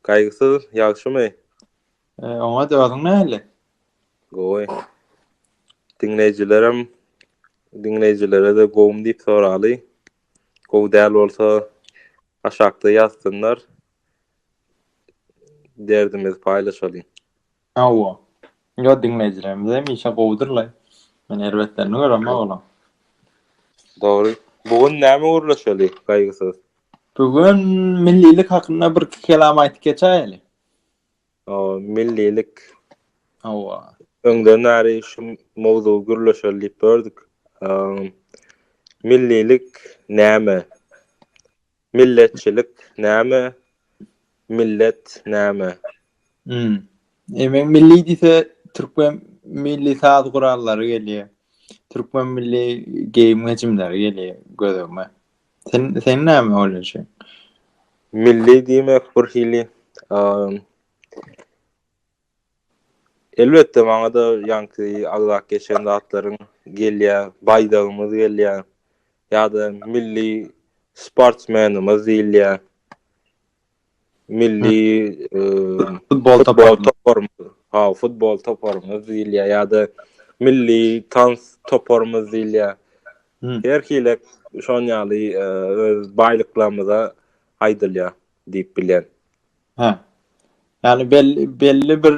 Gaýgysyz, ýagşymy? Oňat, özüň nähili? Gowy. Diňleýjilerem, diňleýjilere-de gowumy diýip soraly. Gowy däl bolsa, aşakda ýazsynlar. Derdimizi paýlaşalyň. Hawa. Ýa diňleýjilerimiz hem işe gowudyrlaý. Men erbetlerini göremok olaň. Dogry. Bu gün näme gürleşeli, Gaýgysyz? Bu gün millilik hakynda birki kelam aýdyp geçäýeli. O, millilik. Hawa. Öňden bäri şu mowzugy gürleşeli diýip gördük. Millilik näme? Milletçilik näme? Millet näme? Hmm. E men milli diýse türkmen milli saz gurallary gelýär. Türkmen milli geýim gejimleri gelýär gözüme. Sen sen näme oýlanýaň? Milli diýmek bir hili Elbetde maňada ýaňky agzap geçen zatlaryň gelýär, baýdagymyz gelýär ýa-da milli sportsmenimiz diýilýär. Milli futbol toparymyz, ha futbol toparymyz diýilýär ýa-da milli tans toparymyz diýilýär. Her hili şon ýaly öz baýlyklarymyza aýdylýar diýip bilýän. Hä. Ýagny belli belli bir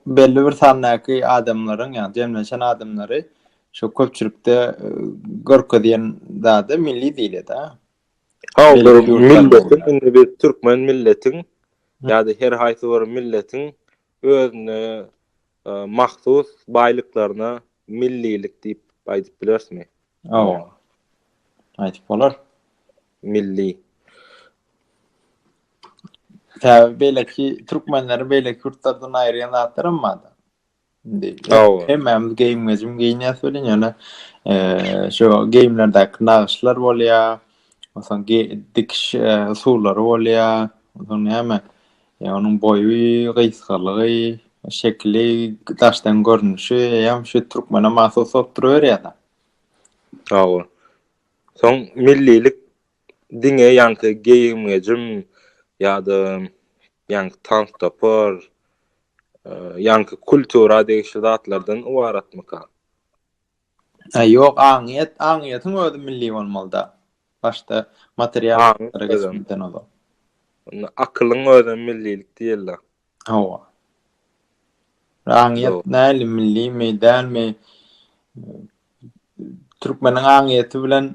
belli bir sandaky adamlaryň ýagny jemlenşen adamlary şu köpçülikde görkezýän zady milli diýilýär-de. Hä, milletiň indi biz türkmen milletiň ýa-da her haýsy bir milletiň özüne mahsus baýlyklaryna millilik diýip aýdyp bilerismi? Hawa. Aýdyp bolar. Milli. Täze beýleki türkmenleri beýleki ýurtlardan aýyrýan zatlar hem bardy. Indi hemmämiz geýim-gejim geýinýäs welin, ýöne şu geýimlerdäki nagyşlar bolýar, onsoň dikiş usullary bolýar, onsoň näme, Ýa onuň boýy, gysgalygy, şekili, daşdan görnüşi hem şu türkmene mahsus bolup duruberýär-de. Hawa. Soň millilik diňe ýaňky geýim-gejim ýa-da ýaňky tans-topar, ýaňky kultura degişli zatlardan ybaratmyka? He ýok aňyýet, aňyýetiň özi milli bolmalyda. Başda material zatlara geçmeden ozal. Onda akylyň özem millilik diýella. Hawa. Aňyýet näli millimi, dälmi? Türkmeniň aňyýeti bilen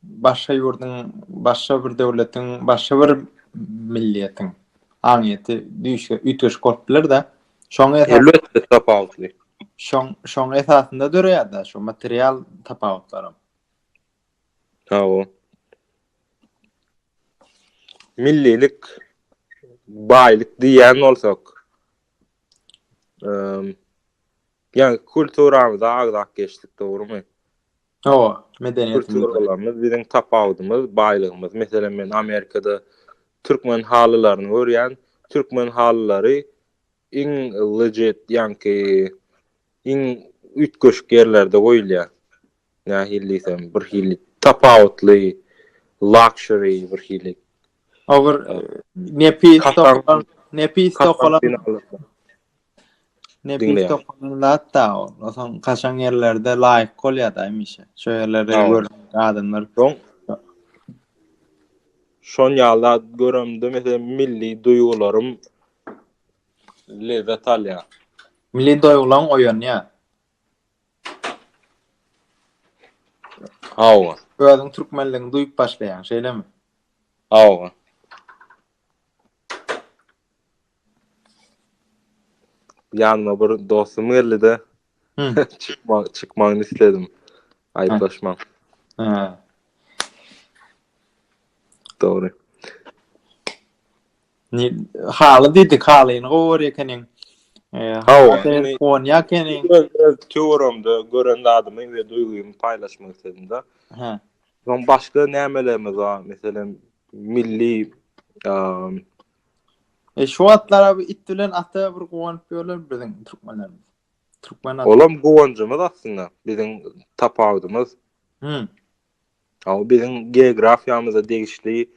başga ýurduň, başga bir döwletiň, başga bir milliýetiň aňyýeti düýşge üýtgeşik bolup biler-de. Şoň esasynda tapawutly. Şoň şoň esasynda döreýär-de şu material tapawutlaram. Hawa. Millilik baýlyk diýýän bolsak, eee, ýa kulturamyza agzap geçdik, dogrumy? Hawa, medeniýetimiz. Kulturalarymyz biziň tapawudymyz, baýlygymyz. Meselem, men Amerikada türkmen halylaryny görýän. Türkmen halylary iň legit, ýaňky iň üýtgeşik ýerlerde goýulýar. Nähili diýsem, bir hili tapawutly, luxury bir hili. O bir nepis, nepis tokalan. Nebis dokanan zat-da ol. Osaň kaçan ýerlerde laýyk bolýar-da hemişe. Şo ýerleri görüp adamlar. Soň şon ýala göremde mesela milli duýgularym lezzet alýar. Milli duýgulaň oýanýar. Hawa. Özüň türkmenligiňi duýup başlaýaň, şeýlemi? Hawa. Ýanyma bir dostum geldi-de. Çykma, çykmagyny isledim. Aýyplaşmaň. Ha. Dogry. Ni haly diýdi, halyny gowy görýär ekeniň. Hawa, on ýakeny. Töwerimde gören zadymy we duýgymy paýlaşmak isledim-de. Ha. Soň başga nämelerimiz bar? Meselem, milli E şu atlara bu it bilen ata bir guwanyp ýörler biziň türkmenlerimiz. Türkmen at. Olam guwanjymyz aslynda biziň tapawudymyz. Hı. Aw biziň geografiýamyza degişli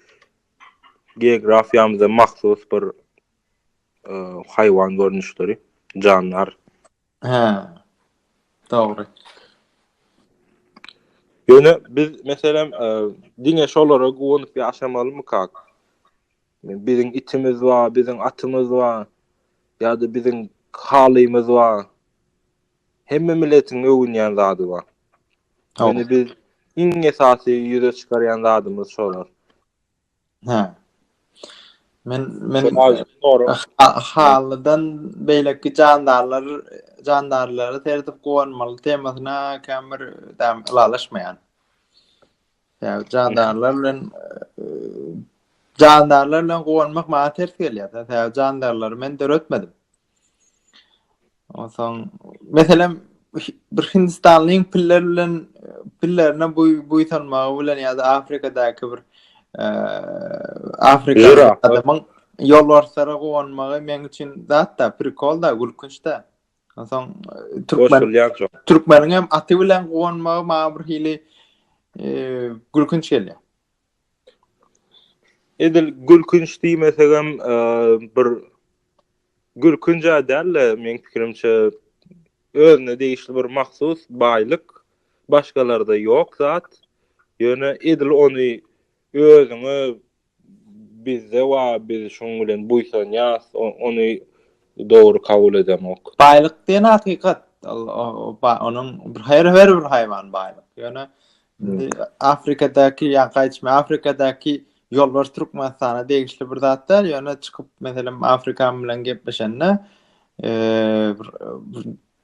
geografiýamyza mahsus bir e, haýwan görnüşleri, janlar. He. Dogry. Ýöne biz meselem e, diňe şolara guwanyp ýaşamalymy kak? Biziň itimiz bar, biziň atymyz bar ýa-da biziň halymyz bar. Hemme milletiň öwünýän zady bar. Ýöne biz iň esasy ýüze çykarýan zadymyz şolar. Hä. Men men halydan beýleki jandarlar jandarlara serdip guwanmaly temasyna käbir däm ylalaşmaýan. Ýa jandarlar bilen jandarlar bilen gowanmak maňa ters gelýär. Sebäbi jandarlary men döretmedim. Onsoň meselem bir Hindistanlyň piller bilen pillerine bu bu tanmagy bilen ýa-da Afrikadaky bir e, Afrika adamyň ýolbarslara gowanmagy men üçin zatda prikol da gülkünç da. Onsoň türkmen türkmeniň hem aty bilen guwanmagy maňa bir hili gülkünç gelýär. Edil gülkünç diýmesek hem bir gülkünç däl-de, meň pikirimçe özüne degişli bir mahsus baýlyk, başgalarda ýok zat. Ýöne edil ony özüňe Bizde wa biz şoň bilen buýsanýas ony dogry kabul edemok. Baýlyk diýen hakykat onuň her bir haýwan baýlyk ýöne indi afrikadaky ýa gaýçmy afrikadaky ýolbars türkmenistana degişli bir zat däl ýöne çykyp meselem afrikan bilen gepleşende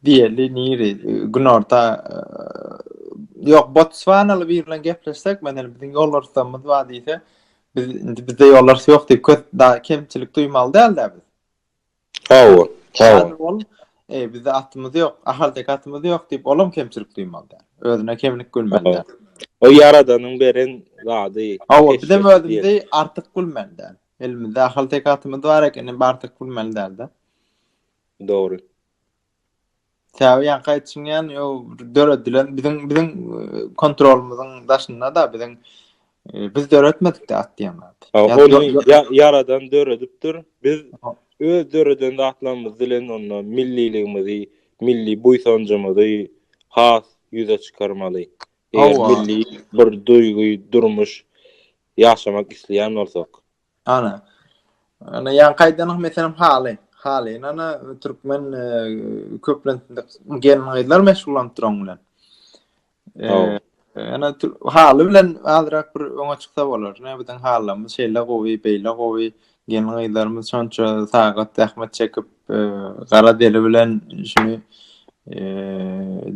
Diýeli niri günorta ýok Botswanaly bir bilen gepleşsek men indi biziň ýol arsamyz bar diýse biz indi bizde ýol arsy ýok diýip köp da kemçilik duýmaly däl dä biz. Hawa. Hawa. Ol e bizde atymyz ýok, ahaltek atymyz ýok diýip olam kemçilik duýmaly däl. Özüne kemlik gülmeli däl. O ýaradanyň beren zady. Hawa biz hem özümizi artyk gülmeli däl. Elimizde ahaltek atymyz bar ekeni artyk gülmeli däl dä. Dogry. Sebäbi ýaňky aýdyşyň ýaly o döredilen biziň biziň e, kontrolymyzyň daşynda-da biziň e, biz döretmedik-de at diýen zat. Ýa, ýaradan döredipdir. Biz öz döreden zatlarymyz bilen onda milliligimizi, milli buýsanjymyzy has ýüze çykarmaly. Eger milli bir duýgy, durmuş ýaşamak isleýän bolsak. Ana. Ana ýaňky aýdanyň meselem haly. Haly. Ana türkmen e, köplentinde gelin gyzlar meşgullanyp duran bilen. E, ana haly bilen azrak bir öňe çyksa bolar. Ne biziň halymyz şeýle gowy, beýle gowy. Gelin gyzlarymyz şonça sagat zähmet çekip, e, gara deli bilen şuny e,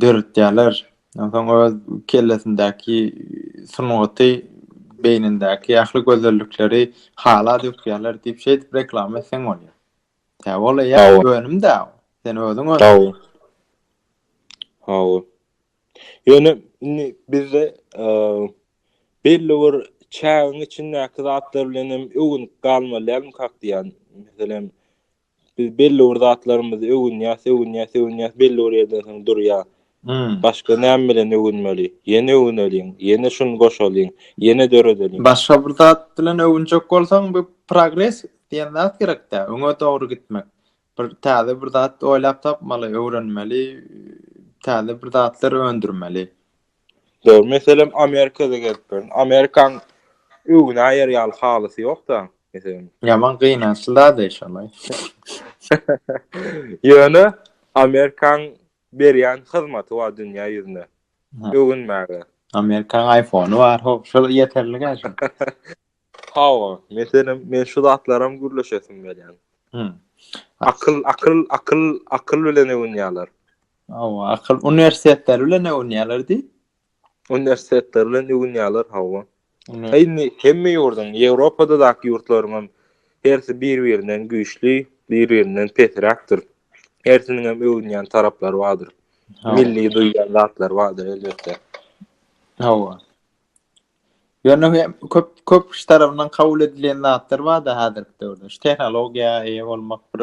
döretýärler. Onsoň öz kellesindäki sungaty, beýnindäki ähli gözellikleri hala dökýärler diýip şeýdip reklama etseň bolýar. Tä ol eýe önüm-dä. Sen özüň öň. Hawa. Hawa. Ýöne indi bizde belli bir çägiň içindäki zatlar bilen hem öwünip galmaly dälmi kak diýýän. Meselem, Biz belli bir zatlarymyzy öwünýäs, öwünýäs, öwünýäs, belli bir ýerden soň durýar. Başga näme bilen öwünmeli? Ýene öwüneliň, ýene şuny goşalyň, ýene döredeliň. Başga bir zat bilen öwünjek bolsaň, bu progres diýen zat gerek-dä, öňe dogry gitmek. Bir täze bir zat oýlap tapmaly, öwrenmeli, täze bir zatlar öndürmeli. Dogry meselem Amerikada gezip görün. Amerikan öwüne aýar ýaly halysy ýokda, meselem. Ýaman gynançly zada şolaý. Ýöne Amerikan berýän hyzmaty bar dünýä ýüzüne. Öwünmäge. Amerikan iPhone-y bar, ho, şol ýeterlik-ä şol. Hawa, meselem, men şu zatlaram gürleşesim gelýän. Hmm. Akyl, akyl, akyl, akyl bilen öwünýärler. Hawa, akyl uniwersitetler bilen öwünýärler diý. Uniwersitetler bilen öwünýärler, hawa. Indi hemme ýurduň, Ýewropada daky ýurtlaryň hersi bir-birinden güýçli, bir-birinden pesräkdir. Hersiniň hem öwünýän taraplary bardyr. Milli duýýan zatlary bardyr elbetde. Hawa. Ýöne hem köp köp kişi tarapyndan kabul edilen zatlar bar-da häzirki döwürde. Şu tehnologiýa eýe bolmak bir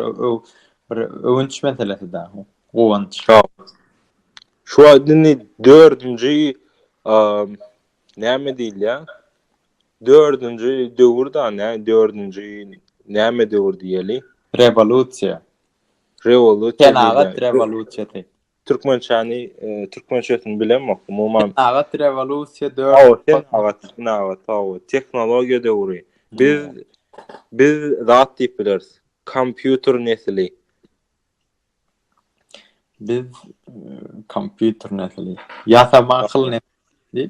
bir öwünç meselesi da, guwanç. Şu wagt indi dördünji näme diýilýär? Dördünji döwür da, nä dördünji näme döwür diýeli? Rewolýusiýa. Rewolýusiýa. Senagat rewolýusiýasy. Türkmençäni, türkmençesini bilemok, umuman. Senagat rewolýusiýa dört. Hawa, senagat, senagat, hawa, tehnologiýa döwri. Biz, biz zat diýip bileris, kompýuter nesli. Biz kompýuter nesli. Ýasama akyl nesli.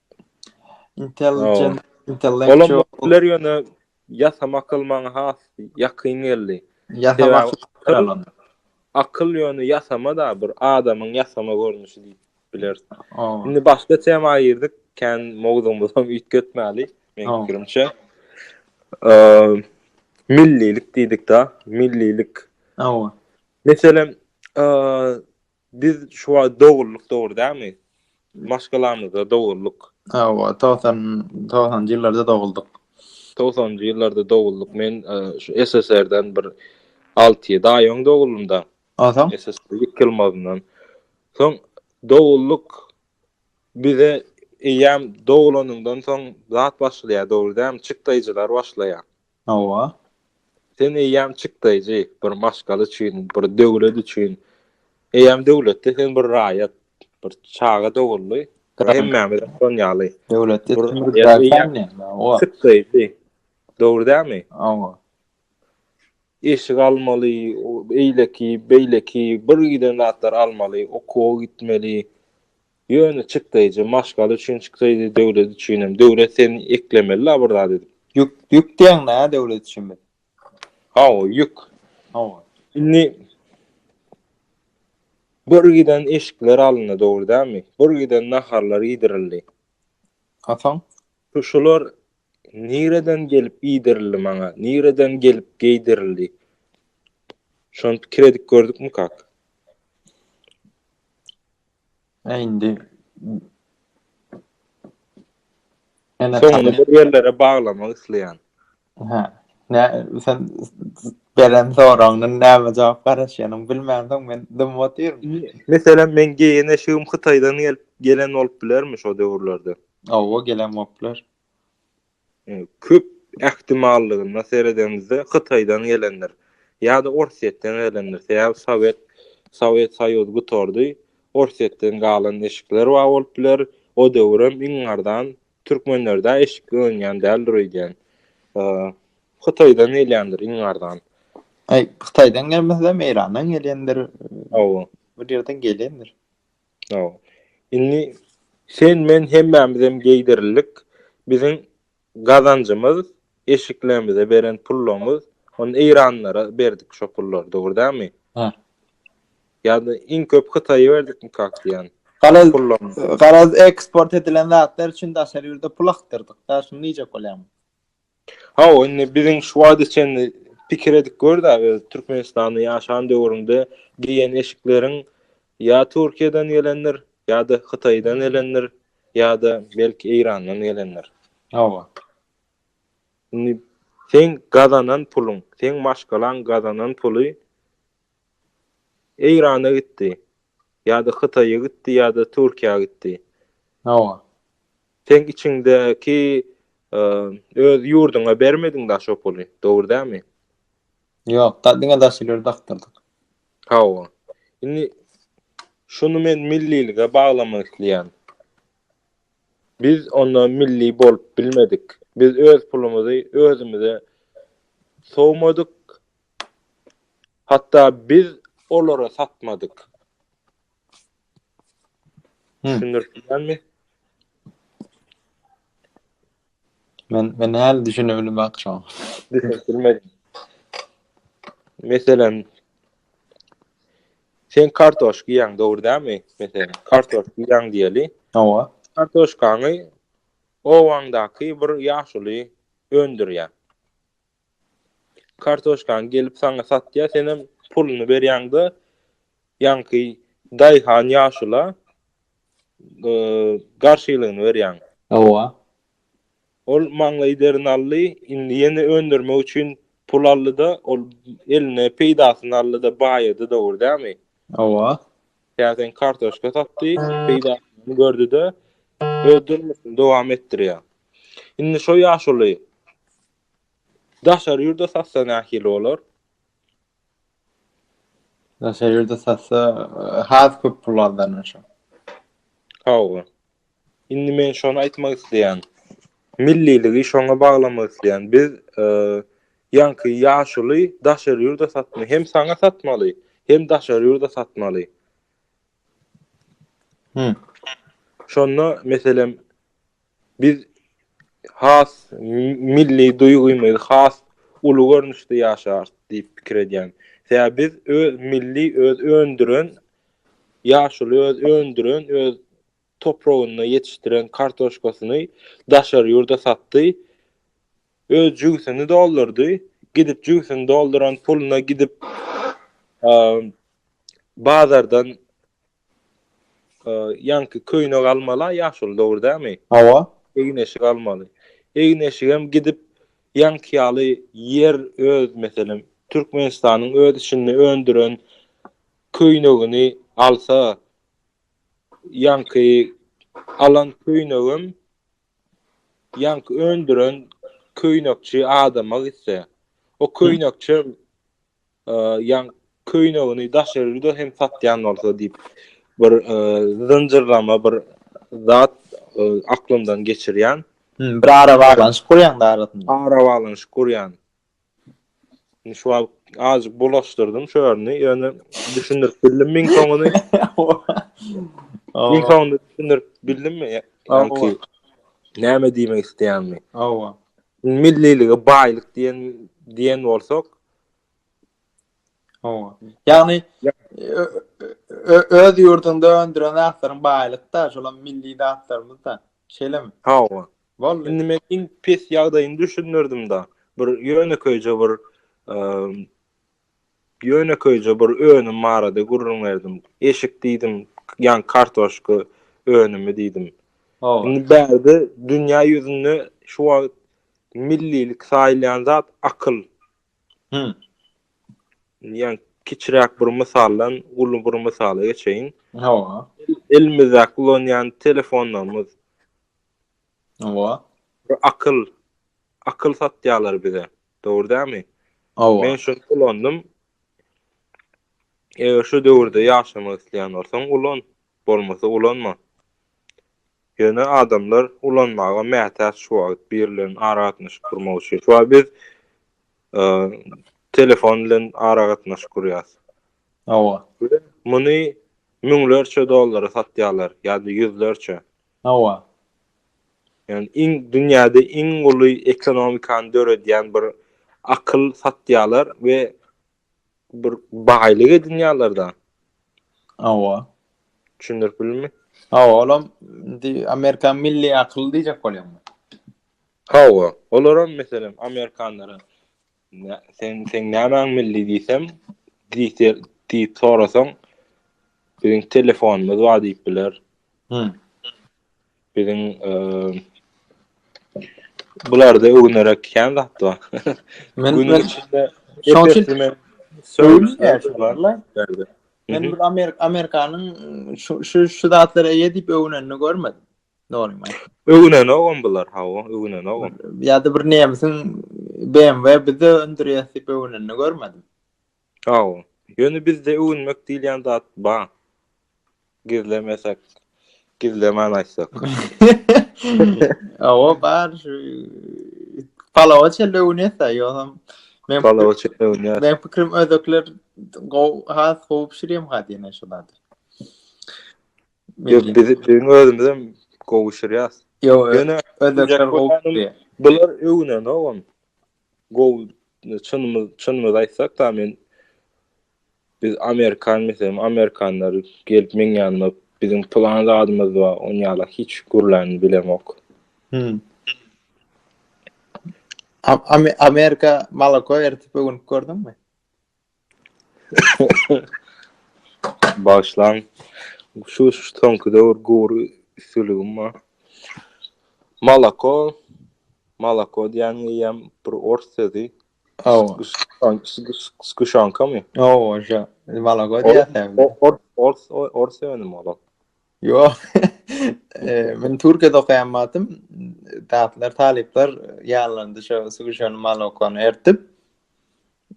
Intelligent, intellectual. Olar ýöne ýasama akyl maňa has ýakyn geldi. Ýasama akyl. Akyl ýöne ýasama da bir adamyň ýasama görnüşi diýip bileris. Indi başga tema girdik. Kän mowzugymyzy hem üýtgetmäli. Meň pikirimçe. Millilik diýdik-de, millilik. Meselem, Biz şu wagt dogrulyk dogry dämi? Maşgalamyzda dogrulyk. Hawa, togsan, togsanjy ýyllarda doguldyk. Togsanjy ýyllarda doguldyk. Men e, şu SSR-den bir alty ýedi aý öň doguldym-da. Onsoň? SSR ýykylmazyndan. Soň doguldyk. Bize eýýäm dogulanyňdan soň zat başlaýar, dogry dämi? Çykdaýjylar başlaýar. Hawa. Sen eýýäm çyk daýjy, bir maşgala üçin, bir döwlet üçin. Eýýäm döwletde sen bir raýat, bir çaga doguldy. Hemmämiz şon ýaly. Döwletde sen bir daýjy. Hawa. Çyk daýjy. Dogry dälmi? Hawa. Eşik almaly, eýleki, beýleki, bir giden zatlar almaly, okuwa gitmeli. Ýöne çykdaýjy maşgala üçin çykdaýjy döwlet üçinem döwlet seni eklemeli la bir zat edip. Ýük ýük diýeň nä döwlet üçin biz. Hawa ýük. Hawa. Indi bir giden eşikler alyndy dogry dälmi? Bir giden naharlar iýdirildi. A soň? Şular nireden gelip iýdirildi maňa? Nireden gelip geýdirildi? Şony pikir edip gördükmi kak? Äý indi Ene Soňuny talyp. bir ýerlere baglamak isleýän. Hä. Nä sen beren soragyňdan näme jogap garaşýanyny bilmänsoň men dymyp otyryn. Meselem meň geýen eşigim Hytaýdan gelip gelen bolup bilermi şo döwürlerde? Hawa gelen bolup biler. Köp ähtimallygyna seredeniňizde Hytaýdan gelendir. Ýa-da Orsýetden gelendir. Sebäbi Sowet Sowet Soýuzy gutardy. Orsýetden galan eşikler bar bolup biler. O döwürem iň arzan türkmenlerde eşik önýän däldir öýdýän. Hytaýdan gelýändir iň arzan. Hytaýdan gelmesem Eýrandan gelýändir. Hawa. Bir ýerden gelendir. Hawa. Indi sen men hemmämizem geýdirildik. Biziň gazanjymyz eşiklerimize beren pullumyz. Ony eýranlara berdik şo pullary, dogry dälmi? Bar. Ýa-da iň köp Hytaýa berdikmi kak diýýän? Garaz, pullum. Garaz eksport edilen zatlar üçin daşary ýurda pul akdyrdyk. Daşyny diýjek bolýarmy? Hawa, indi biziň şu wagta çenli pikir edip gör-de, öz Türkmenistanda ýaşan döwrüňde geýen eşikleriň ýa Türkiýeden gelendir, ýa-da Hytaýdan gelendir, ýa-da belki Eýrandan gelendir. Hawa. Indi seň gazanan puluň, seň maşgalaň gazanan puly Eýrana gitdi. Ýa-da Hytaýa gitdi ýa-da Türkiýä gitdi. Hawa. Seň içiňdäki öz ýurduňa bermediň daş o puly, dogry dämi? Ýok, da diňe daş ileri dakdyrdyk. Hawa. Indi şuny men millilige baglamak isleýän. Biz onda milli bolup bilmedik. Biz öz pulumyzy özümize sowmadyk, Hatda biz olara satmadyk. Düşündirip bilýärmi? Men men häli düşünip bilmek şoň. Düşünip bilmedim. Meselem Sen kartoş giýäň, dogry dämi? Meselem, kartoş giýäň diýeli. Hawa. Kartoşkany owaňdaky bir ýaşuly öndürýär. Kartoşkany gelip saňa satýar, senem puluny berýäňde, ýaňky daýhan ýaşula garşylygyny berýäň. Hawa. Ol maňlaýy derini aldy, indi ýene öndürmek üçin pul aldy-da, ol eline peýdasyny aldy-da, baýady dogry dämi? Hawa. Käteň kartoşka satdy, peýdasyny gördi-de, öz durmuşyny dowam etdirýär. Indi şo ýaşuly Daşary ýurda satsa nähili bolar? Daşary ýurda satsa has köp pul gazanýar şo. Hawa. Indi men şony aýtmak isleýän. Milliligi şoňa baglamak isleýän. Biz e, ýaňky ýaşuly daşary ýurda satma, hem saňa satmaly, hem daşary ýurda satmaly. Hı. Şonda meselem Biz has milli duýgymyzy has uly görnüşde ýaşarys diýip pikir edýän. Sebäbi biz öz milli öz öndüren ýaşuly öz öndüren öz topragynda ýetişdiren kartoşkasyny daşary ýurda satdy. Öz jübüsini doldurdy. Gidip jübüsini dolduran puluna gidip bazardan Ýaňky köýnek almala ýaşuly dogry dämi? Hawa. Egin-eşik almaly. Egin-eşigem gidip ýaňky ýaly ýer öz meselem Türkmenistanyň öz içinde öndüren köýnegini alsa ýaňky alan köýnegem ýaňky öndüren köýnekçi adama gitse o köýnekçem Ýaň köýnegini daşary ýurda hem satýan bolsa diýip bir zynjyrlama bir zat aklymdan geçirýän. Bir ara baglanyşyk gurýan da arasynda. Ara baglanyşyk gurýan. Şu wagt azajyk bulaşdyrdym şu ýerini, ýöne düşündirip bildim meň soňuny. Meň soňuny düşündirip bildimmi? Ýa-da näme diýmek isleýänimi? Hawa. Millilige baýlyk diýen diýen bolsak, Ýagny öz ýurduňda öndüren zatlaryň baýlykda, şolam milli zatlarymyzda. Şeýlemi? Hawa. Boldy. Indi men iň pes ýagdaýyny düşündirdim-de. Bir ýönekeýje bir ýönekeýje bir önüm barada gürrüň berdim. Eşik diýdim, ýaňky kartoşka önümi diýdim. Indi bärde dünýä ýüzünde şu wagt Millilik saýylýan zat akyl. Hü. Ýa kiçiräk bir mysaldan uly bir mysala geçeýin. Hawa. Elimizde ulanýan telefonlarymyz. Hawa. Bu akyl. Akyl satýarlar bize. Dogry dämi? Hawa. Men şuny ulandym. Eger şu döwürde ýaşamak isleýän bolsaň, ulan. Bolmasa ulanma. Ýöne adamlar ulanmaga mätäç şu wagt biri bilen aragatnaşyk gurmak üçin. Şu wagt biz telefon bilen aragatnaşyk gurýas. Hawa. Muny müňlerçe dollara satýarlar ýa-da ýüzlerçe. Hawa. Ýani iň dünýäde iň uly ekonomikany döredýän bir akyl satýarlar we bir baýlyk edinýärler-de. Hawa. Düşündirip bildim. Hawa, olam indi Amerika milli akyl diýjek bolýaň. Hawa, olaram meselem amerikanlara sen sen nämäň milli diýsem, diýse diýip sorasaň, biziň telefonymyz bar diýip biler. Hı. Biziň bularda öwünerek kän zat bar. Men günüň içinde şoň üçin söýülýär barlar. Men bir Amerik Amerikanyň şu şu şu zatlara eýe diýip öwünenini görmedim. Dogry maý. Öwünen ogam bular hawa, öwünen ogam. Ýa-da bir nemsiň BMW bizde öndürýär diýip öwünenini görmedim. Sag bol. Ýöne bizde öwünmek diýilýän zat bar. Gizlemesek, gizlemän aýtsak. Hawa bar şu palawa çenli öwünýäs-ä, ýogsam men Palawa çenli öwünýäs. Men pikirim özbekler gowy, has gowy bişirýärmi gaty ýene şu zady? Ýok, biz biziň özümizem gowy bişirýäs. Ýok, özbekler gowy bişirýär. Bular öwünenogam. Gowy çynymyz çynymyzy aýtsak da men biz amerikan meselem amerikanlar gelip meň ýanyma biziň plan zadymyz bar on ýala hiç gürlän bilemok. Hmm. Amerika malako ertip ögünüp gördüňmi? Bagyşlaň. Şu soňky döwür gury üstüligim bar. Malako, malako diýen ýem bir ors sözü. Aw. Skuşankamy? Aw, oja. Malako diýýärler. Ors, ors, ors öňüm ola. Yo. Men Türkiýede okaýan wagtym talyplar ýalandy şu skuşany malakony ertip.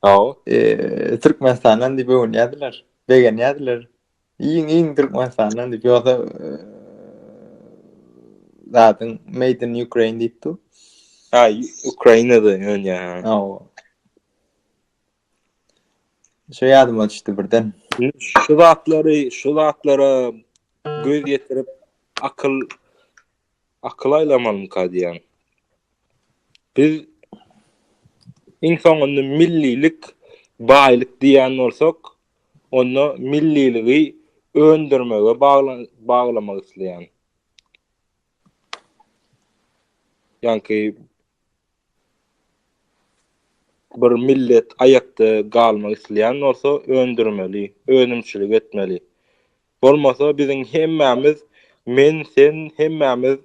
Hawa. Eee Türkmenistandan diýip öwünýärdiler. Begenýärdiler. Iň iň Türkmenistandan diýip ýogsa zadyň made in Ukraine diýip dur. Ha, Ukrainada öwünýär. Hawa. Şu ýadyma düşdi birden. Şu zatlary, şu zatlara göz ýetirip akyl akyl aýlamalymyka diýýän. Biz iň soňunda millilik baýlyk diýýän bolsak, onda milliligi öndürmege baglamak isleýän. Ýagny bir millet aýakda galmak isleýän bolsa öndürmeli, önümçilik etmeli. Bolmasa biziň hemmämiz men sen hemmämiz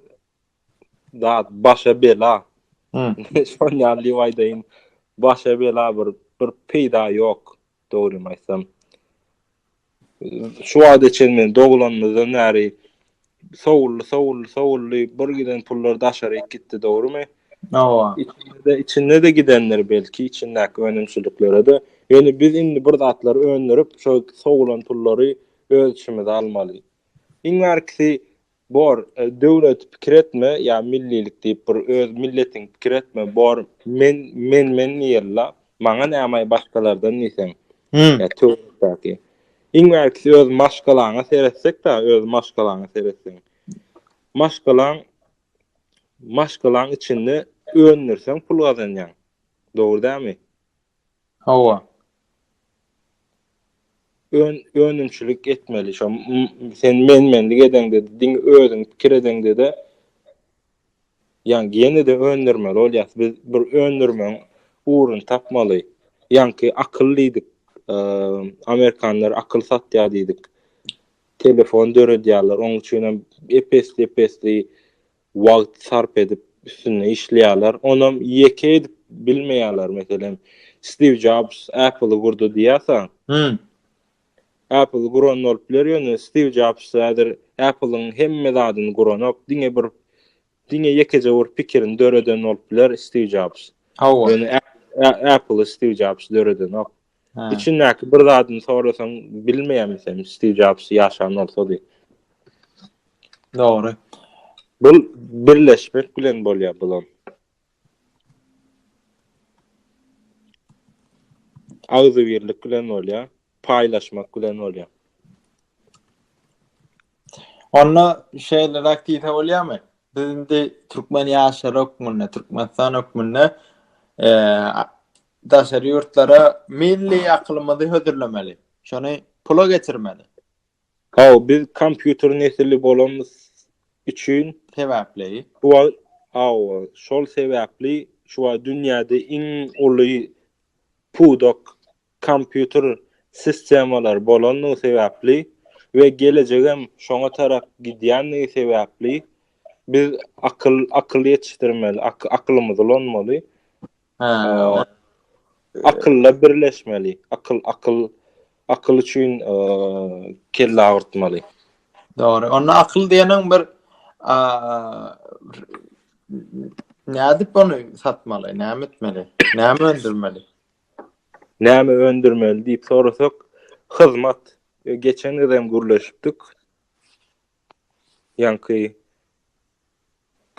zat başa bela. Şon ýaly diýip aýdaýyn. Başa bela bir bir peýda ýok. Dogrymy aýtsam. Şu wagta çenli men doglanymyzdan bäri sowuldy, sowuldy, sowuldy. Bir giden pullar daşaryk gitdi, dogrymy? Hawa. Içinde-de, içinde-de gidendir belki, içindäki önümçiliklere-de. Ýöne biz indi bir zatlary öndürip, şo sogulan pullary öz içimize almaly. Iň bärkisi bor, döwleti pikir etme, ýa millilik diýip bir öz milletiňi pikir etme, bor men, men, men diýeli-la, maňa näme-aý başgalardan diýseň. Ýa töwerekdäki. Iň bärkisi öz maşgalaňa seretsek-de, öz maşgalaňa seretseň. Maşgalaň maşgalaň içinde öndürseň pul gazanýaň. Dogry dälmi? Hawa. Ön önümçilik etmeli. Şo sen men-menlik edeňde, diňe özüň pikir edeňde-de ýaňy ýene-de öndürmeli bolýas. Biz bir öndürmeň ugruny tapmaly. Ýaňky akyl diýdik. Amerikanlar akyl satýar diýdik. Telefon döredýärler, onuň üçin hem epesli-epesli wagt sarp edip üstünde işleýärler. Onam ýeke edip bilmeýärler. Meselem, Stiw Jobs Apple-y gurdy diýýärsiň. Hum. Apple-y guran bolup biler, ýöne Stiw Jobs häzir Apple-yň hemme zadyny guranok, diňe bir diňe ýekeje bir pikirini döreden bolup biler Stiw Jobs. Hawa. Ýöne Apple-y Stiw Jobs döredenok. Üçündäki bir zadyny sorasaň bilmeýämi sen Steve Jobs ýaşan bolsady. Dogry. Bu birleşmek bilen bolýar bulan. Agzy birlik bilen bolýar, paýlaşmak bilen bolýar. Onda şeýle raktiýse bolýarmy? Biz indi türkmen ýaşary hökmünde, Türkmenistan hökmünde eee Daşary ýurtlara milli akylymyzy hödürlemeli. Şony pula geçirmeli. Hawa, biz kompýuter nesili bolanymyz üçin. Sebäpli. Şu wagt, hawa, şol sebäpli şu wagt dünýäde iň uly pudak kompýuter sistemalary bolandygy sebäpli we gelejegem şoňa tarap gidýändigi sebäpli biz akyl, akyl ýetişdirmeli, akylymyzy ulanmaly. Hä. Akylla birleşmeli. Akyl, akyl, akyl üçin kelle agyrtmaly. Dogry. Onda akyl diýeniň bir nädip ony satmaly, näme etmeli, näme öndürmeli? Näme öndürmeli diýip sorasak, hyzmat. Geçen gezem gürleşipdik. Ýaňky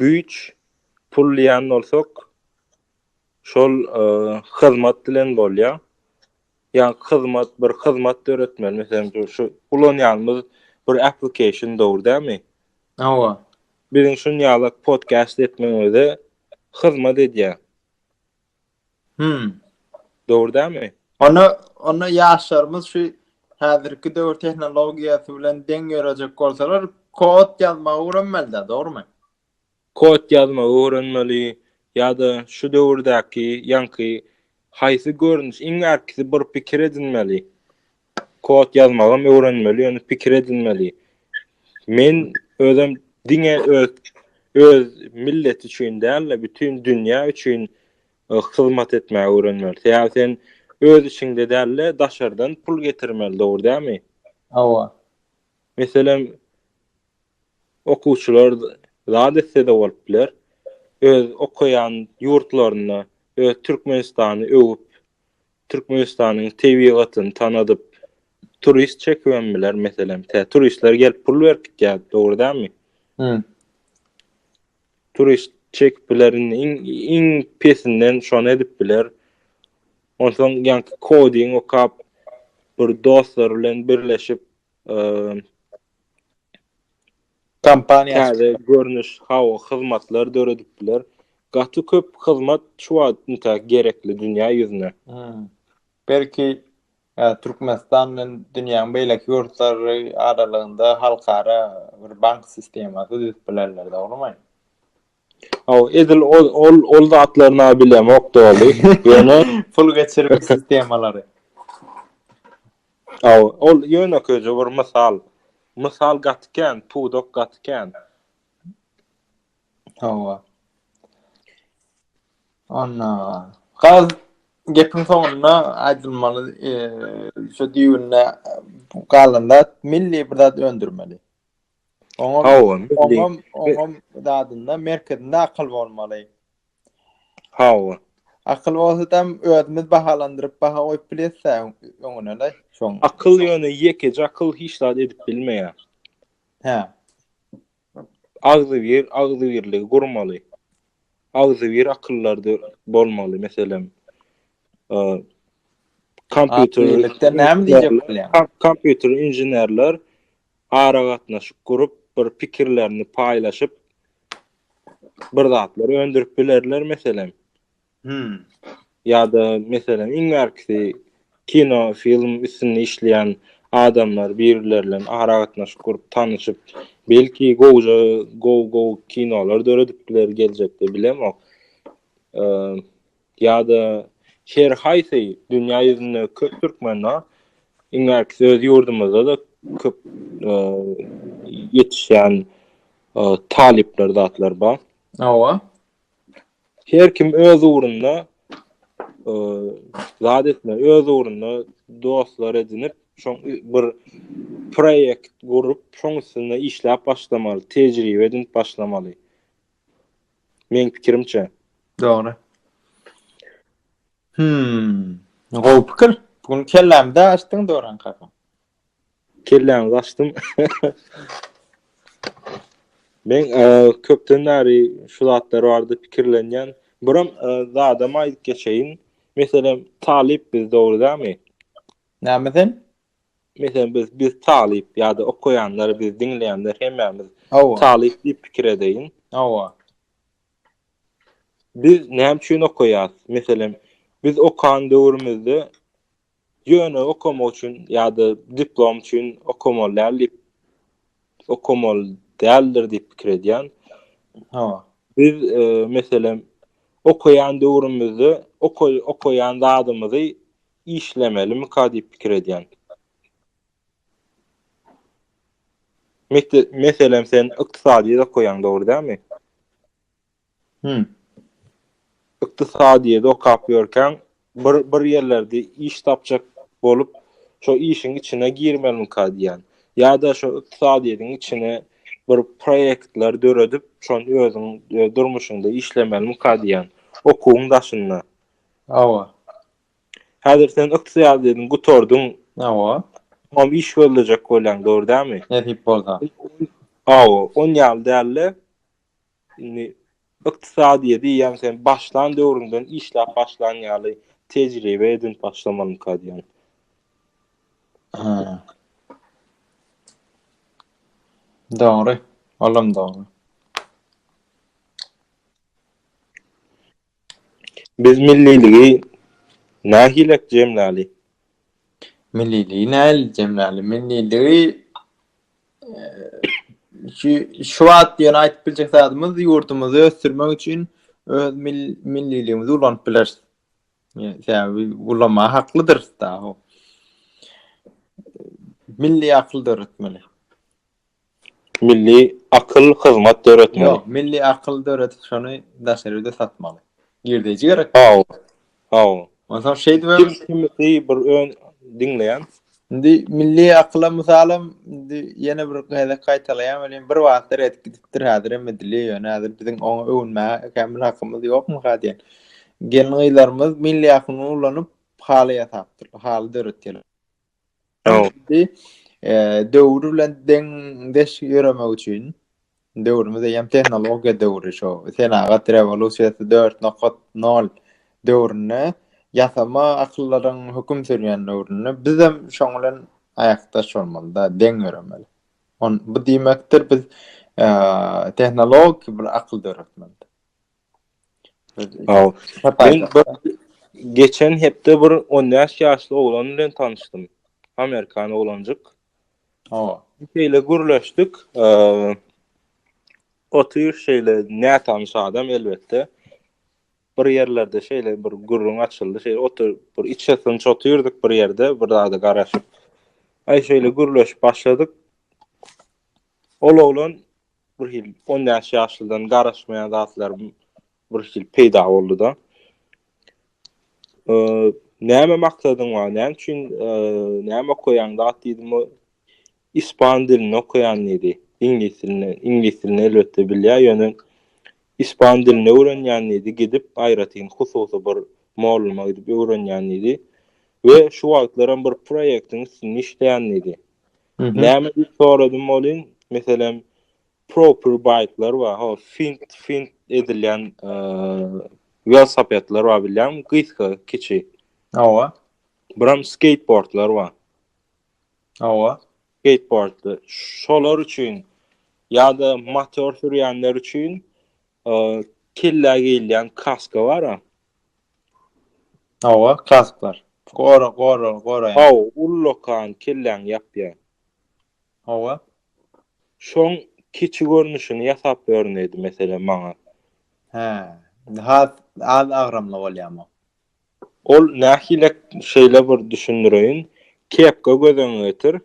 güýç pul diýen bolsak, şol e, hyzmat bilen bolýar. Ýa hyzmat bir hyzmat döretmeli, meselem şu ulanýanymyz bir application dogry dämi? Hawa. Biziň şun ýaly podcast etmegimize hyzmat edýär. Hmm. Dogry dämi? Onda onda ýaşlarymyz şu häzirki döwür tehnologiýasy bilen deň ýörejek bolsalar, kod ýazmagy öwrenmeli-dä, dogrumy? Kod ýazmagy öwrenmeli ýa-da şu döwürdäki ýaňky haýsy görnüş iň ärkisi bir pikir edinmeli. Kod ýazmagam öwrenmeli, ýöne pikir edinmeli. Men özüm diňe öz öz millet üçin däl-de, bütin dünýä üçin e, hyzmat etmäge öwrenmeli. Sebäbi sen öz içiňde däl-de, daşardan pul getirmeli, dogry dälmi? Hawa. Meselem, okuwçylar zat etse-de bolup biler. Öz okaýan ýurtlaryny, öz Türkmenistany öwüp, Türkmenistanyň tebigatyny tanadyp, turist çekibem biler, meselem, tä turistler gelip pul berip gitýär, dogry dälmi? Hä. Turist çekip biler, indi iň, iň pesinden şony edip biler. Onsoň ýaňky koding okap, bir dostlar bilen birleşip, eee, Kompaniýa täze görnüş hawa hyzmatlar döredip biler. Gaty köp hyzmat şu wagt üntä gerekli dünýä ýüzüne. Belki Türkmenistan bilen dünýäň beýleki ýurtlary aralygynda halkara bir bank sistemasy düzüp bilerler dogrymy? Hawa, edil ol ol ol zatlaryna bilemok doly. Ýöne pul geçirmek sistemalary. Hawa, ol ýönekeýje bir mysal. Mysal gaty kän, pudak gaty kän. Hawa. Anna. Gaz gepiň soňunda aýdylmaly, eee, şu düýbünde galan zat milli bir zat öndürmeli. Oňam, Hawa, milli. oňam, oňam zadynda merkezinde akyl bolmaly. Hawa. Akyl bolsadam özümiz bahalandyryp baha goýup bilýäs-ä öňüne-le şoň. Akyl ýöne ýekeje akyl hiç zat edip bilmeýär. Hä. Agzybir, agzybirligi gurmaly. Agzybir akyllardy bolmaly, meselem, e, kompýuter Agzybirlikden näme diýjek bolýaň? Kom- kompýuter inženerler aragatnaşyk gurup, bir pikirlerini paýlaşyp, bir zatlar öndürip bilerler, meselem. Hmm. Ýa-da, meselem, iň bärkisi kino, film üstünde işleýän adamlar birbilerle aragatnaşyk gurup, tanyşyp, belki gowja, gow-gow kinolar döredip biler geljekde, bilemok. Eee, Ýa-da her haýsy dünýä ýüzünde köp türkmen bar. Iň äkisi öz ýurdumyzda-da köp e, ýetişýän e, talyplar zatlar bar. Hawa. Her kim öz ugrunda e, zat etme, öz ugrunda dostlar edinip, şoň bir proýekt gurup, şoň üstünde işläp başlamaly, tejribe edinip başlamaly. Meň pikirimçe. Dogry. Hmm. Gowy pikir. Bugün kellämde açdyň Doran kaka. Kelläňi açdym. Men e, köpden bäri şu zatlar barada pikirlenýän. Buram e, zadam aýdyp geçeýin. Meselem, talyp biz dogry dämi? Näme sen? Meselem biz biz talyp ýa-da okaýanlar, biz diňleýänler hemmämiz talyp diýip pikir edeýin. Hawa. Biz näme üçin okaýas? Meselem, biz okan döwrümizde ýöne okamak üçin ýa-da diplom üçin okamaly däl diýip okamaly däldir diýip pikir edýän. Hawa. Biz e, meselem okaýan döwrümizde okaýan zadymyzy işlemelimika diýip pikir edýän. Meselem sen ykdysadyýet okaýaň dogry dälmi? Hü. Ykdysadyýet okap ýörkäň bir bir ýerlerde iş tapjak bolup şo işiň içine girmelimika diýýän. Ýa-da şo ykdysadyýetiň içine bir proýektler döredip şony özüň durmuşyňda işlemelimika diýýän. Okuwyň daşynda. Hawa. Häzir sen ykdysadyýetiň gutardyň. Hawa. Hom iş gözlejek bolýaň, dogry dälmi? Nesip bolsa. Hawa, on ýaly däldi. Indi ykdysadyýeti ýa sen başlan döwrüňden işläp başlan ýaly tejribe edinip başlamalyň kadýan. Ha. Dogry. Olam dogry. Biz milliligi nähilek jemläli? Milliligi nähili jemläli? Milliligi şu şu wagt ýöne aýdyp biljek zadymyz ýurdumyzy ösdürmek üçin öz milliligimizi ulanyp bileris. Sebäbi ulanmaga haklydyrys dagy. Milli akyl döretmeli. Milli akyl hyzmat döretmeli. Ýok, milli akyl döredip şony daşary ýerde satmaly. Girdeýji gerek. Hawa. Hawa. Onsoň şeýdip hem Kim kimisi bir ön diňleýän. Indi milli akyla mysalam indi ýene bir gezek gaýtalaýan welin bir wagtlar edip gidipdir häzir hem edilýär ýöne häzir biziň oňa öwünmäge kämil hakymyz ýokmyka diýen. Gelin gyzlarymyz milli akyny ulanyp haly ýasapdyrlar, haly döretýärler. Öwrüldi. Döwür bilen deňdeş ýöremek üçin döwrümiz eýýäm tehnologiýa döwri şu. Senagat rewolýusiýasy 4.0 döwründe ýasama akyllaryň höküm sürýän döwründe biz hem şoň bilen aýakdaş bolmaly-da, deň ýöremeli. On bu diýmekdir biz tehnologik bir akyl döretmeli. Geçen hepde bir 15 ýaşly oglan bilen tanyşdym. Amerikan oglanjyk. Hawa. Şeýle gürleşdik. Otyr şeýle nätanyş adam elbetde. Bir ýerlerde şeýle bir gürrüň açyldy. Şeýle otyr bir içesini çotyrdyk bir ýerde, bir zada garaşyp. Aý şeýle gürleşip başladyk. Ol oglan bir hil on bäş ýaşlydan garaşmaýan zatlar bir hil peýda boldy-da. Näme maksadyň bar? Näme üçin näme okaýaň? Dat diýdim, ispan dilini okaýan diýdi. Iňlis dilini, iňlis dilini elbetde bilýär, ýöne ispan dilini öwrenýän diýdi, gidip aýratyn hususy bir molluma gidip öwrenýän diýdi. We şu wagtlaram bir proýektiň üstünde işleýän diýdi. Näme diýip soradym bolin, meselem, proper bike'lar bar, ho, fint, fint edilýän e, velosipedler bar bilýän, gysga, kiçi. Awa. Biram skateboardlar bar. Awa. Skateboard. Şolar üçin ýa-da motor sürýänler üçin e, kellä geýilýän kaska bar. Hawa, klassikler. Gora, gora, goraýan. Hawa, ullakan, kelläňi ýapýan. Hawa. Şoň kiçi görnüşini ýasap berin diýdi, meselem, maňa. Hä, has az agramly bolýarmy? Ol nähili, şeýle bir düşündireýin. Kepka gözüňe getir.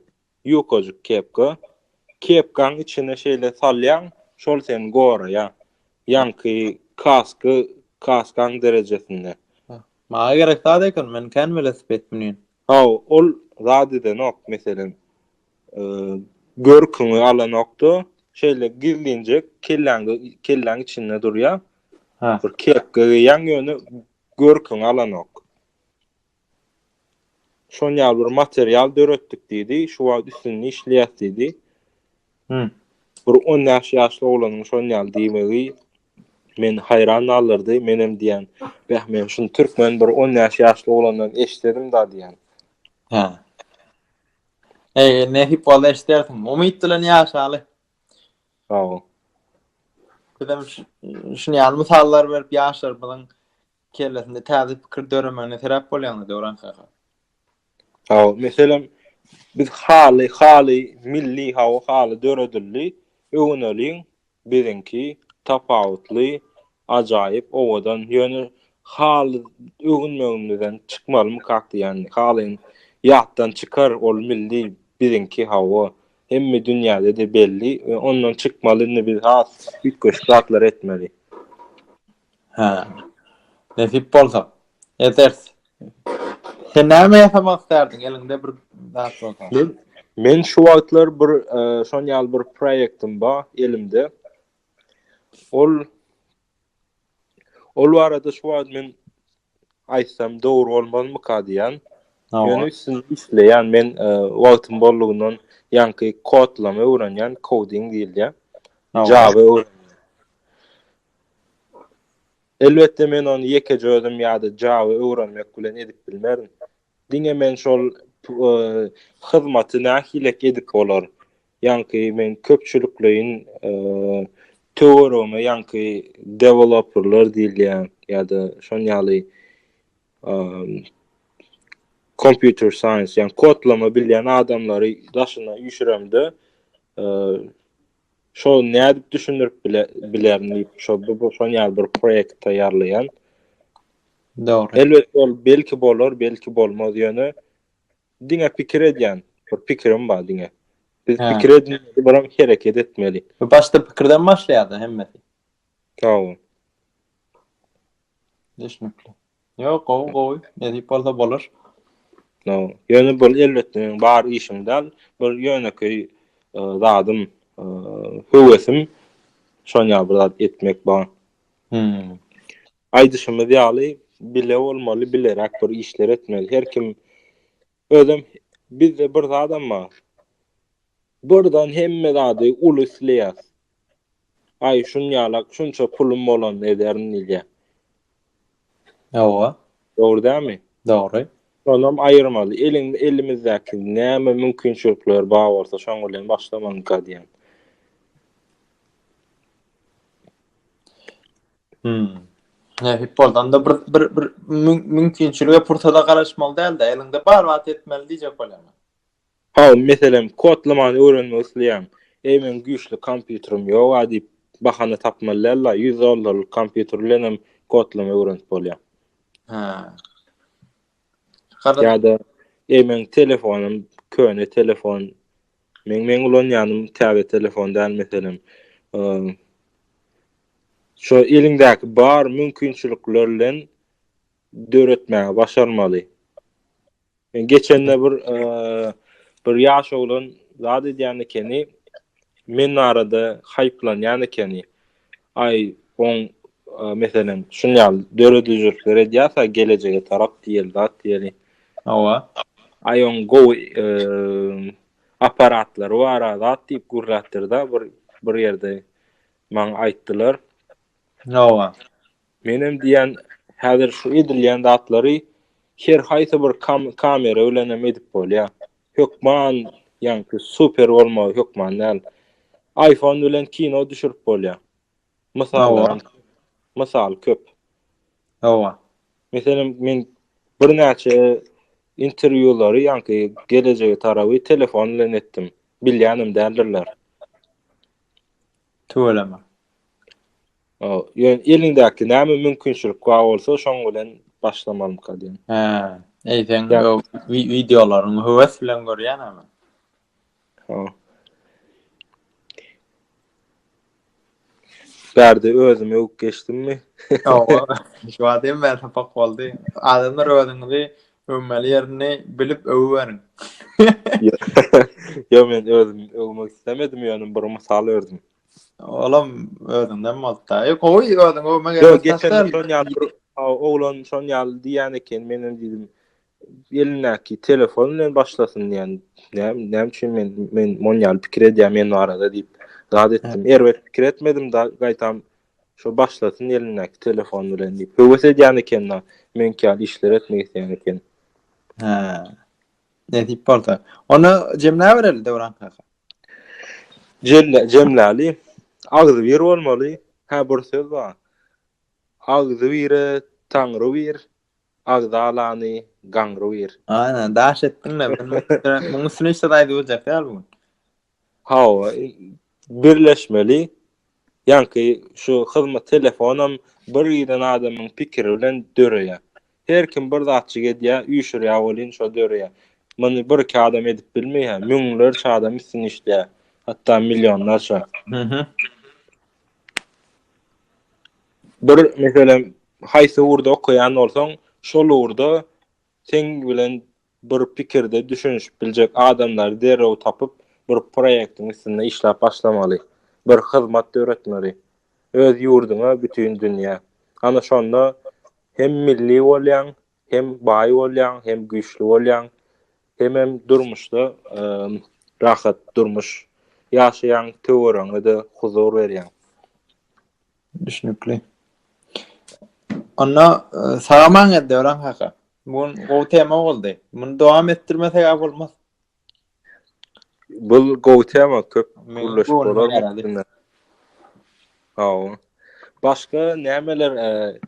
Ýukajyk kepka. Kepkaň içine şeýle salýaň, şol seni goraýar. Ýaňky kasky kaskaň derejesinde. Maňa gerek zat eken, men kän welosiped münýän. Hawa, ol zat edenok, meselem, görküňi alanok-da, şeýle gizlinjek kelläňde, kelläň içinde durýar. Bir kepka geýýäň, ýöne görküňi alanok. Şon ýaly bir material döretdik diýdi. Şu wagt üstünde işleýäs diýdi. Hı. Bir 10 ýaş ýaşly oglanyň şon ýaly diýmegi men haýran galdyrdy. Menem diýen, "Bäh, men şun türkmen bir 10 ýaş ýaşly oglandan eşdedim da" diýen. Hä. Eger nesip bolsa eşdersiň. Umyt bilen ýaşaly. Sag bol. Bizem şun ýaly mysallar berip ýaşlarymyzyň Kellesinde täze pikir döremegine sebäp bolýaňyz Döwran kaka. Hawa, meselem biz haly, haly milli hawa haly döredildi. Öwüneliň biziňki tapawutly, ajaýyp, owadan. Ýöne haly öwünmegimizden çykmalymykak diýýän. Haly ýatdan çykar, ol milli biziňki hawa. Hemme dünýäde-de belli we ondan çykmaly indi biz has üýtgeşik zatlar etmeli. Hä. Nesip bolsa. Ederis. Sen näme ýasamak islärdiň, eliňde bir zat bolsa? Men, men şu wagtlar bir e, şon ýaly bir proýektim bar elimde. Ol ol barada şu wagt men aýtsam dogry bolmazmyka diýýän. Ýöne üstünde işleýän. Men wagtym boldugyndan ýaňky kodlama öwrenýän, coding diýilýär. Java öwrenýän. Elbetde men ony ýekeje özüm ýa-da Java öwrenmek bilen edip bilmerin. Diňe men şol hyzmaty nähilek edip bolar? Ýaňky men köpçülikleýin töweregime ýaňky deweloperler diýilýän ýa-da şon ýaly kompýuter saýens, ýaňky kodlama bilýän adamlary daşyna üýşüremde, Şo nädip düşündirip bile bilerin diýip şo bu bu şon ýaly bir proýekt taýýarlaýan. Dogry. Elbet ol belki bolar, belki bolmaz ýöne diňe pikir edýän. Bir pikirim bar diňe. Biz Hä. pikir edin, biram hereket etmeli. Bu başda pikirden başlaýar-da hemmesi. Sag bol. Düşnükli. Ýok, gowy, gowy. Nesip bolsa bolar. No, ýöne bul elbetde bar işiň däl. Bir ýönekeý e, zadym, e, höwesim şon ýaly bir zat etmek bar. Hmm. Aýdyşymyz ýaly bile bolmaly, bileräk bir işler etmeli. Her kim Özem bizde bir zadam bar. Birden hemme zady uly isleýäs. Aý şun ýalak şunça pulum bolanda ederin diýýä. Hawa. Dogry dälmi? Dogry. Şonam aýyrmaly. Eliň elimizdäki näme mümkinçilikler bar bolsa şoň bilen başlamalyňka diýýän. Hmm. Ne futboldan da bir bir bir mümkinçilige pursada garaşmaly däldi. Elinde bar wagt etmeli diýjek bolýan. Ha, meselem, kodlamany öwrenmek isleýän. Eý, men güýçli kompýuterim ýok a diýip bahana tapmaly däldi. 100 dollarlyk kompýuter bilen hem kodlama öwrenip bolýar. Ha. Ýa-da eý, men telefonym köne telefon Men men ulanýanym täze telefon däl meselem. Şu eliňdäki bar mümkinçilikler bilen döretmäge başarmaly. Men geçende bir bir ýaş oglan zat edýän ekeni. Men arada haýplanýan ekeni. Aý, oň, meselem, şuny ýaly döredijilikler edýärse, gelejege tarap diýeli zat diýeli. Hawa. Aý, oň gowy apparatlary bar, zat diýip gürläpdir-de, bir bir ýerde maňa aýtdylar. Hawa. Menem diýýän, häzir şu edilýän zatlary her haýsy bir kamera bilen hem edip bolýar. Hökman ýaňky super bolmagy hökman däl. Aýfon bilen kino düşürip bolýar. Mysal, mysal köp. Hawa. Meselem men birnäçe interwýulary ýaňky gelejege tarawy telefon bilen etdim. Bilýänem däldirler. Tüweleme. O, ýöne eliňdäki näme mümkinçilik bar bolsa, şoň bilen başlamalymyka diýen. Hä, eýseň bu wideolaryňy höwes bilen görýän ama. Ha. Bärde özümi öwüp geçdimmi? Ýok, şu wagt hem bäri sapak boldy. Adamlar özüňizi Öwmeli ýerini bilip öwüberiň. Ýok men özüm öwmek islemedim ýöne bir mysal ördüm. Olam özüňden bolupda. Ýok gowy özüň öwme gerek. Ýok geçen şon ýaly bir oglan şon ýaly diýen eken men hem diýdim. Elindäki telefon bilen başlasyn diýen. Näme näme üçin men men mon ýaly pikir edýän men barada diýip. Zat etdim. Erbet pikir etmedim da gaýtam Şo başlasyn elindäki telefon bilen diýip höwes edýän eken-la, meňki ýaly işler etmek isleýän eken. Hä. Nesip bolsa. Onda jemläbereli Döwran kaka. Jelle, jemläli. Agzybir bolmaly. Hä, bir söz bar. Agzybire Taňry bir, agzalany gaňry bir. Aýna, daş etdiň-le. Munuň üstüne hiç zat aýdyp biljek däl bu gün. Hawa, birleşmeli. Ýaňky şu hyzmat telefonam bir giden adamyň pikiri bilen döreýär. Her kim bir zatjyk edýär, üýşürýär welin şo döreýär. Muny bir-iki adam edip bilmeýär, müňlerçe adam üstüni işleýär. Hatda millionlarça. Bir meselem, haýsy ugurda okaýan bolsaň, şol ugurda Seň bilen bir pikirde düşünişip biljek adamlary derrew tapyp, bir proýektiň üstünde işläp başlamaly. Bir hyzmat döretmeli. Öz ýurduňa, bütin dünýä. Ana şonda hem milli bolýaň, hem baý bolýaň, hem güýçli bolýaň, hemem durmuşda rahat durmuş ýaşaýaň, töweregiňe-de huzur berýäň. Düşnükli. Onda e, sagaman geldi Döwran kaka. Bu gün gowy tema boldy. Muny dowam etdirmesek a bolmaz. Bu gowy tema köp gürleşip bolar. Hawa. Başga nämeler e,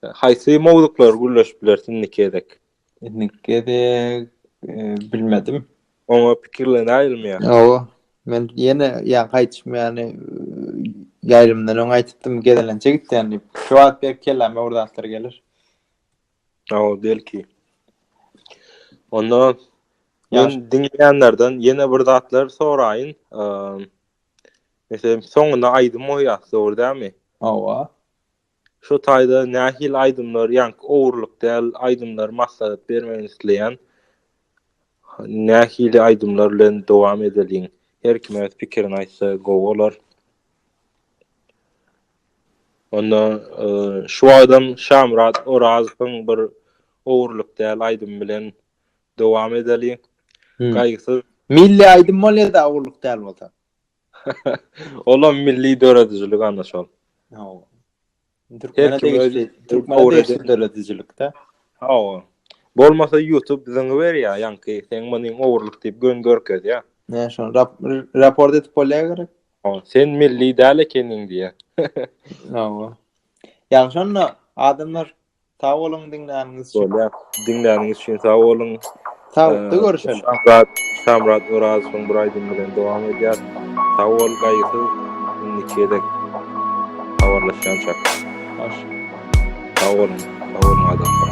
haýsy mowzuklar gürleşip bilersin nikedek? Indiki gezek bilmedim. Oňa pikirler aýrylmaýar. Hawa. Men ýene ýa gaýtym ýany ýaýlymdan öň aýtdym gezelençe gitýän diýip. Şu wagt bir kelläme bir zatlar gelir. Hawa, belki. Onda men diňleýänlerden ýene bir zatlar soraýyn. Meselem, soňuna aýdym goýýas, dogry dälmi? Hawa. Şu taýda nähili aýdymlar ýaňky ogurlyk däl aýdymlar maslahat bermegini isleýän nähili aýdymlar bilen dowam edeliň her kim öz pikirini aýtsa gowy bolar. Onda şu wagtam Şamyrat Orazowyň bir ogurlyk däl aýdymy bilen dowam edeliň. Gaýgysyz. Milli aýdym bolýa-da ogurlyk däl bolsa. Olam milli döredijilik ana şol. Hawa. Türkmene degişli, Türkmene degişli döredijilikde. Hawa. Bolmasa YouTube biziň berýär, ýanki sen muny ogurlyk diýip gön görkezýär. Ne şon, rap, raport edip bolýar gerek. Hawa, sen milli däl ekeniň diýýär. Hawa. Ýa şonda adamlar Sag boluň diňläniňiz üçin. Bolýar. Diňläniňiz üçin sag boluň. Saglyk görüşelim. Şamrat, Şamrat Orazowyň bir aýdymy bilen dowam edýär. Sag bol, gaýgysyz. Indiki gezek habarlaşýançak. Hoş. Sag boluň. Sag boluň adamlar.